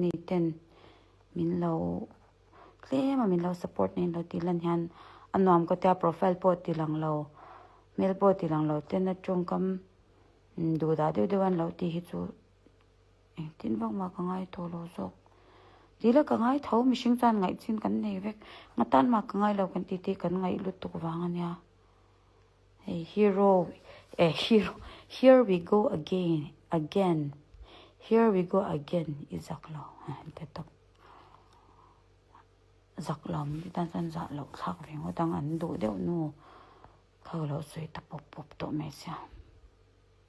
ni ten min lo tlem a min lo support nen lo tih lan hian a nuam ka tia profile pawh ti lang lo hmel pawh ti lang lo ten a tawngkam duhdah deuh deuh a ni lo tih hi chu-- Engtin vak mah ka ngai tawh lo zawk. Tila ka ngai tho, mihring chuan ngaih chin kan nei vek. Nga tan mah ka ngai lo kan tih te kan ngaih lutuk vang a nia. Hei hero eh hero here we go again again here we go again i zak lo en ta tawp. Zak lo mite tan chuan zah loh thlak ve ngawt ang an duh deuh nu kho lo sawi ta pawp pawp tawh mai sia.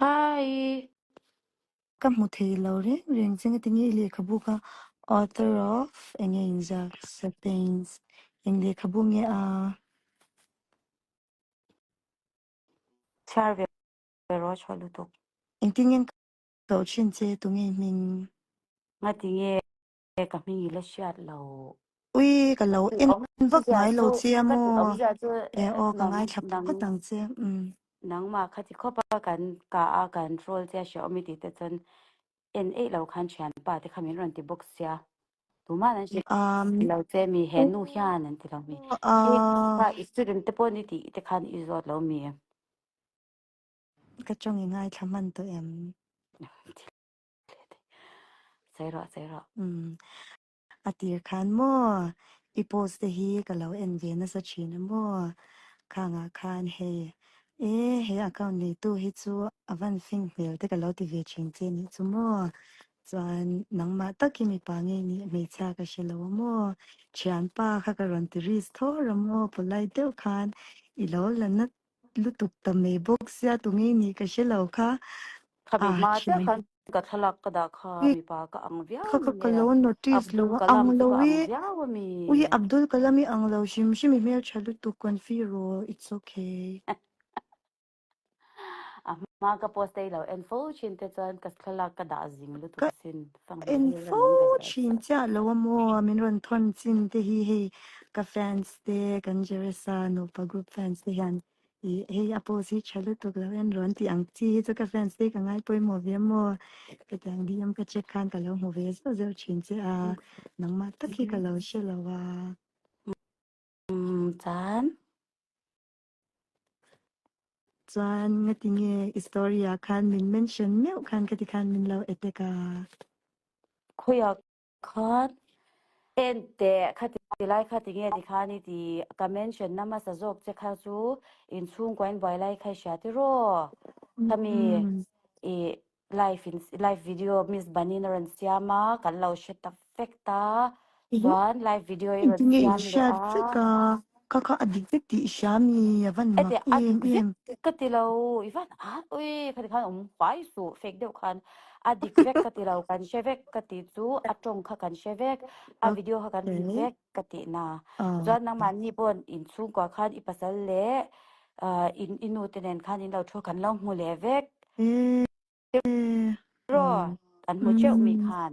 Hi. Ka hmu thei lo reng reng che nga ti nge i lehkhabu kha author of enge inziak Sapiens in lehkhabu nge a chhiar ve rawh chhuah lutuk. Engtin ngen ka koh thin che tunge i hming. Nga ti nge He ka hming ila hriat lo. Ui ka lo en vak ngai lo che a maw. E aw ka ngaithla phawt ang che um. Nangma kha chi khawp a kan ka a kan role che a hria awm i tih te chuan en eih lo khan thianpa te kha min rawn ti bawk sia tumah an hria ti lo che mi he nu hian an ti lo mi he ka i student te pawh ni tih te khan i zawt lo mi. Ka tawng i ngaithla hman tawh em. Sawi rawh, sawi rawh. Umm, a tir khan maw i post te hi ka lo en ve nasa thin a maw? Khangah khan hei e, he account neitu hi chu a van fing hmel te ka lo ti ve thin che nih chu maw? Chuan nangmah tak hi mipa nge nih hmeichhia ka hre lo a maw? Thianpa kha ka rawn ti ris thawr a maw? Polite deuh khan i lo la nat lutuk ta mai bawk sia tu ngei ni ka hre lo kha Kha a mihma che thiam khan ka thlalak ka dah kha ui mipa ka ang viau kha kha ka lo notice lo Abdul a ang Kalam lo chu ka i ang viau a mi. ui Abdul Kalam i ang lo hrim hrim i hmel tha lutuk konfir raw it's okay. A hma ka post daih lo en fo thin te chuan ka thlalak ka dah zing lutuk asin. A en fo thin chiah lo a maw a min rawn thawn chin te hi hei ka fans te kan Jeresa nupa group fans te hian i hei a post hi tha lutuk lo en rawn tih ang chi hi chu ka fans te ka ngai pawimawh ve a maw ka ti ang DM ka check khan ka lo hmu ve zeuh zeuh thin che a nangmah tak hi ka lo hre lo a. Umm chuan Chuan nga ti nge i story ah khan min mention meuh khan ka ti khan min lo attack a. Khawi ah khan en teh kha ti lai kha ti nge ti khan i ti ka mention na hmasa zawk che kha chu in chhungkua in buai lai kha i hria tiraw? Khami i live in live video miss banin a rawn siam a kan lo hre ta fek ta chuan live video i rawn siam leh a ka kha a dik vek tih hria mi a van mak em em ka ti lo i van a ui khani khan awm huai su fek deuh khan a dik vek ka ti lo kan hre vek ka ti chu a tawng kha kan hre vek a video kha kan hlim vek Ka tih na. Chuan nangmah ni pawh in chhungkua khan i pasal leh in i nu te nen khan in lo thu a, kan lo hmu leh vek rawh. Kan hmu teuh mi khan.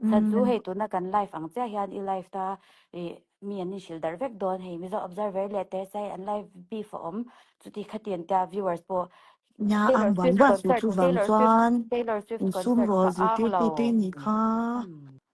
Chhan chu hei tuna kan live ang chiah hian i live ta i mi an inhrilh darh vek dawn. Hei Mizo observer leh Tersai an live beef a awm. Chuti khatiang te ah viewers pawh Taylor Swift concert, Taylor Swift, Taylor Swift concert ka ang lo.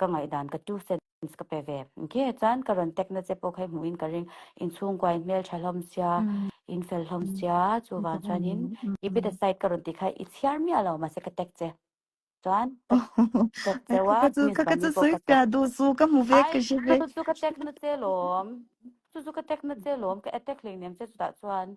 ka ngaihdan ka two cents ka pe ve nghe chuan ka rawn tek na che pawh kha i hmuhin ka ring in chhungkua in hmeltha hlawm sia in fel hlawm sia chuvang chuanin i bit aside ka rawn ti kha i chhiar miah lo mahse ka tek che chuan ka tek cheu a miss Bani pawh ka chawp ai chu chu ka tek na che lawm chu chu ka tek na che lawm ka attack hleinem che chutah chuan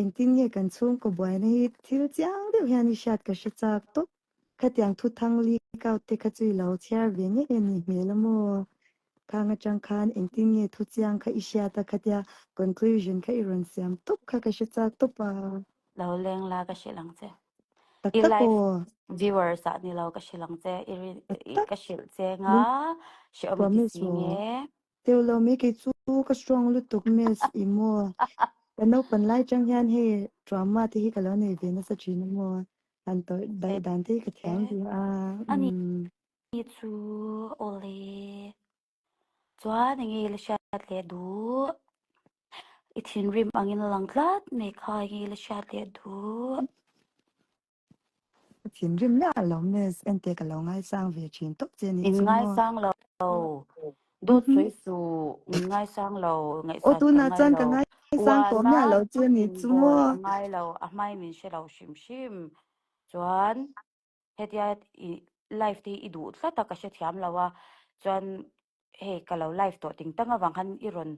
Engtin nge kan chhungkaw buaina hi thil chiang deuh hian i hriat ka hre chak tawp. Khatiang thuthang leak out te kha chu i lo chhiar ve ngei a nih hmel a maw? Khang atang khan engtin nge thu chiang kha i hriat a khatia conclusion kha i rawn siam tawp kha ka hre chak tawp a. Lo leng la ka hrilh ang che. Tak I tak aw. live viewers ah ni lo ka hrilh ang che. I ri i ka hrilh cheng a. Hrilh. Hriawm i ti Promise si nge? aw. Teo lo mai kei chu ka strong lutuk miss i maw ka naupan lai chang hian hei drama te hi ka lo nei ve nasa thin i maw han tawih daih dan te hi ka thiam ve a um Ni chu awle chuan eng nge la hriat leh duh i thinrim angin a lang tlat mai kha eng nge la hriat leh duh. Thin rim la lo miss ente ka lo ngai sang ve thin tawp che ni chu ngaw. In ngai sang lo do choi su in ngai sang lo ngai sa ka ngai lo uana in bawi a ngai lo a hmai min hre lo hrim hrim chuan hetia i life te hi i duh tlat a ka hrethiam lo a chuan hei ka lo live tawh ting tang avang khan i rawn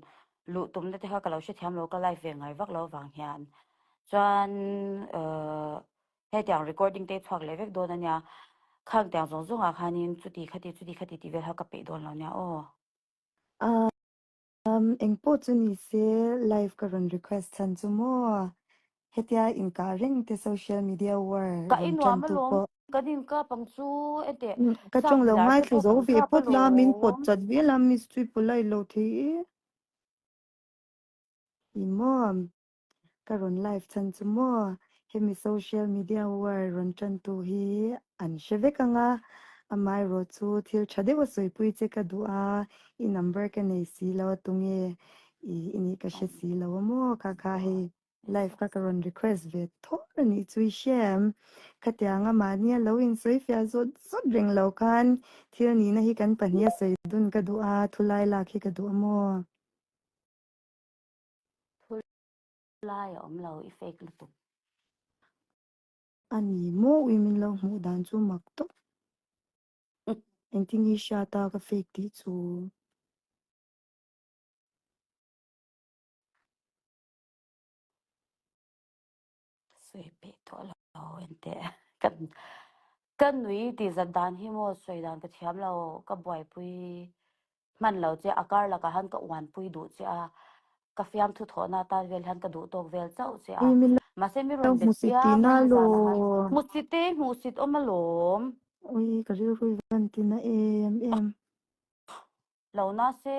luh tumna te kha ka lo hrethiam lo ka live ve ngai vak lo avang hian chuan uh hetiang recording te i chhuak leh vek dawn a nia khang tiang zawng zawng ah khanin chuti khati chuti khati tih vel kha ka peih dawn lo nia aw. Ahh umm engpawh chu ni se live ka rawn request chhan chu maw Hetia inkah reng te social media war Ka rawn inuam tantu alawm, pawh. kan inkap ang chu eteh Ka chak tawng lo zar ngai te thlu pawh zo kan ve kap pawt la min pawt alawm. chat vial a miss chu i paw like lo thei e. I maw? Ka rawn live chhan chu maw? Hemi social media war rawn tantu hi an hre vek ang a, amaherawh chu thil tha deuh a sawipui che ka duh a, i number ka nei si lo a tunge i nih ka hre si lo a maw ka kha hei. Live kha ka rawn request ve tawh a nih chu i hriam. Khatiang anga mahni a lo insawi fiah zawt zawt reng lo khan thil nihna hi kan pahniha sawi dun ka duh a, thulai lak hi ka duh a maw? Thulai a awm lo, i fake lutuk. A ni maw ui min lo hmuh dan chu mak tawh. Engtin i hriat a ka fake tih chu? Sawi peih tawh lo ente ka ka nui tih zat dan hi maw sawi dan ka thiam lo ka buaipui hman lo che a kar lakah han ka uanpui duh che a ka fiam thu thawhna atan vel hian ka duhtawk vel chauh che a mahse mi rawn bet piang mai hi zan ahan hmusite hmuhsit awm alawm ui ka rilru i van tina em em lo nase.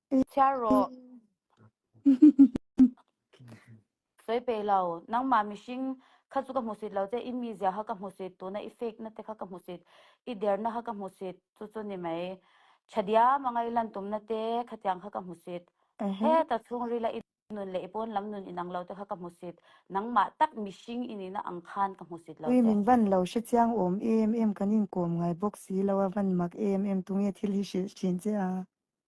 Chhiar rawh. Sawi pe lo. Nangmah mihring kha chu ka hmu sit lo che. I mizia kha ka hmu sit. Tuna i fake na te kha ka hmu sit. I der na kha ka hmu sit. Chu chu ni mai. Chadiam a ngai lan tum na te kha tiang kha ka hmu sit. Heta chhungril a i nun leh i pawn lam nun inang lo te kha ka hmu sit. Nangmah tak mihring inin a ang khan ka hmu sit lo Ui che. min van lo hre chiang awm em em kan inkawm ngai bawk si lo a van mak em em tunge thil hi hrilh thin che a.